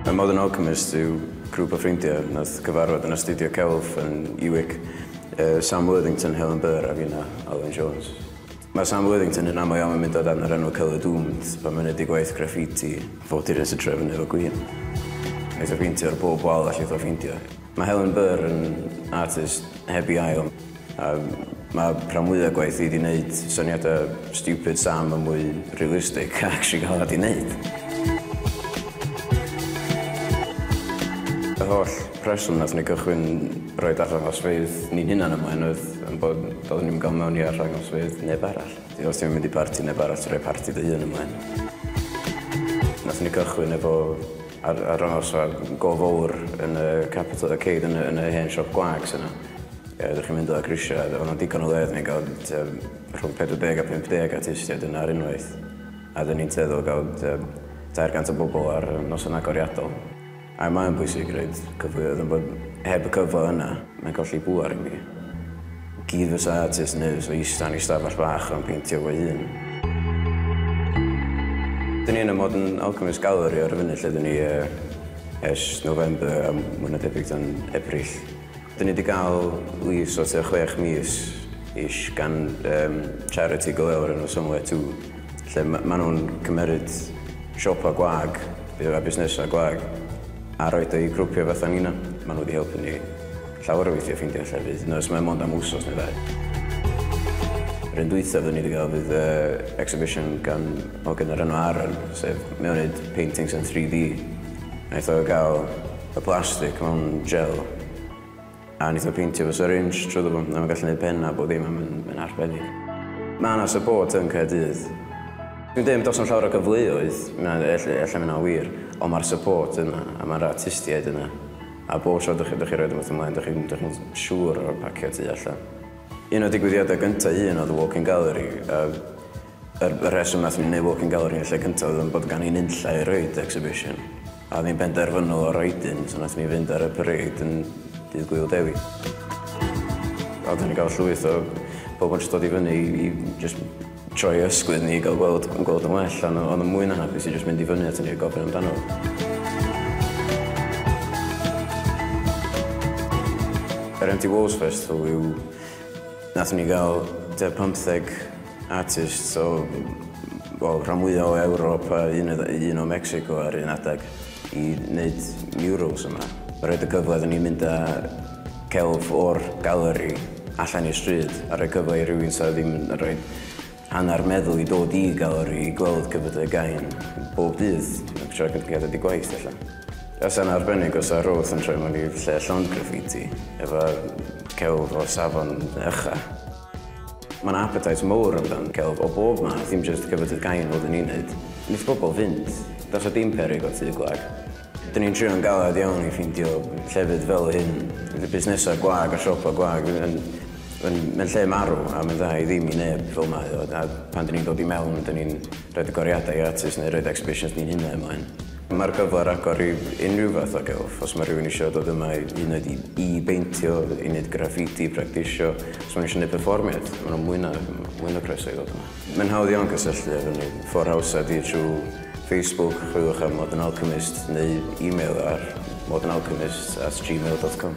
Y Modern Alchemist yw grŵp o ffrindiau nath gyfarfod yn astudio celf yn Iwic. Uh, Sam Worthington, Helen Burr a fina, Alun Jones. Mae Sam Worthington yn aml iawn yn mynd o dan yr enw Colour Doomed pan mae'n neud gwaith graffiti. Fo dyrys y trefn efo gwin. Neith o ffeintio'r bob wal allith o ffeindio. Mae Helen Burr yn artist heb i ail, a mae rhan mwyaf gwaith i di wneud syniadau stupid Sam yn mwy realistic a actually gael rhaid i wneud. Yr holl rheswm nath ni gychwyn rhoi arddangosfeydd ni'n hunan ymlaen oedd yn bod doeddwn ni'm yn cael mewn i arddangosfeydd neb arall. Ti os ti'n mynd i barti neb arall ti'n rhoi parti dy hun ymlaen. Nath ni gychwyn efo Ar ar ôl siop go fowr yn y capital y ceid yn y yn y hen siop gwag sy 'na. Yy dych chi'n mynd o grisia a o'dd 'na digon o le odden ni'n ga'l tua rhwng pedwar deg a pump deg artistiaid yna ar unwaith a odden ni'n tueddol ga'l tua tair gant o bobol ar yy noson agoriadol. A mae o'n bwysig roid cyfleoedd on' bod heb y cyfle yna mae'n colli pŵar i mi. Gyd fysa artist yn neud fysa ista yn ei stafell bach a'n peintio fo'i hun. Dyn ni yn y Modern Alchemist Gallery ar y funud lle dyn ni ers November a mwy na debyg dan Ebrill. Dyn ni wedi cael lease o tua chwech mis ish gan um, charity go lew o'r enw Somewhere Too lle ma maen nhw'n cymeryd siopa gwag a busnesau gwag a roed o'i grwpio fatha nina. Maen nhw wedi helpu ni Llawer o weithie ffeindio llefydd, nys mae mond am wsos neu ddau. Yr un dwytha fyddwn ni wedi gael fydd yy exhibition gan hogyn o'r enw Aaron, sef mae o'n neud paintings yn 3D. Naeth o gael y plastic mewn gel a naeth o peintio fo syringe trwyddo fo, a ma'n gallu neud penna a bob dim a ma'n ma'n arbennig. Ma' 'na support yn Caerdydd. Dwi'n deud do's 'na'm llawer o gyfleoedd, na ell- ella ma' 'na wir, on' ma'r support yna a ma'r artistiaid yna. A bob tro dych chi'n rhoid rhywbeth ymlaen, dych chi'n siŵr o'r pacio tu allan. Un o'r digwyddiadau gyntaf i hun oedd y walk-in gallery. Y rheswm wnaethon ni wneud walk-in gallery yn y lle cyntaf oedd bod gan ni nunlla i roid i exhibition. A oedd hi'n benderfynol o roid un, so wnaethon ni fynd ar y parade yn Dydd Gŵyl Dewi. Oeddwn ni'n cael llwyth o bobl yn jyst dod i fyny i jyst... Troi ysgwydd ni i gael gweld yn gweld yn well, ond oedd yn mwy na hapus i jyst mynd i fyny atyn ni a gofyn amdano. Yr Empty Walls Festival yw... Nath ni gael tua 15 artist o... wel, rhan fwya' o Ewrop a un o Mexico ar un adeg. i wneud murals yma. Mae'n rhoid y cyfle iddyn ni mynd â celf o'r galeri allan i'r stryd a rhoi cyfle i rywun sydd ddim yn rhoi hanner meddwl i dod i galeri i gweld cyfydau gain bob dydd. Mae'n troi cyfydau di gwaith allan. Os yna arbennig os ar roth yn troi mewn i lle llond graffiti efo celf o safon ucha. Mae 'na appetite mowr am dan celf o bob math, dim jyst cyfadydd gain fel 'dyn ni'n neud. Neith bobol fynd. Does 'na dim peryg o tŷ gwag. 'Dyn ni'n trio'n galed iawn i ffeindio llefydd fel hyn. Fydd busnesau gwag a siopa gwag fydd yn yn yn lle marw a mae'n dda i ddim i neb fel mae o a pan 'dyn ni'n dod i mewn 'dyn ni'n rhoid y goriadau gratis neu roid exhibitions ni'n hunain mlaen. Mae'r cyfle ar agor i unrhyw fath o gelf, os mae rhywun eisiau dod yma hyd yn oed i beintio, i wneud graffiti, i bractisio, os mae nhw eisiau gwneud perfformiad, maen nhw'n mwy na, mwy na croeso i ddod yma. Mae'n hawdd iawn cysylltu efo ni, ffordd hawsa ydy trwy Facebook, chwiliwch am Modern Alchemist neu e-mail ar modernalchemist at gmail dot com.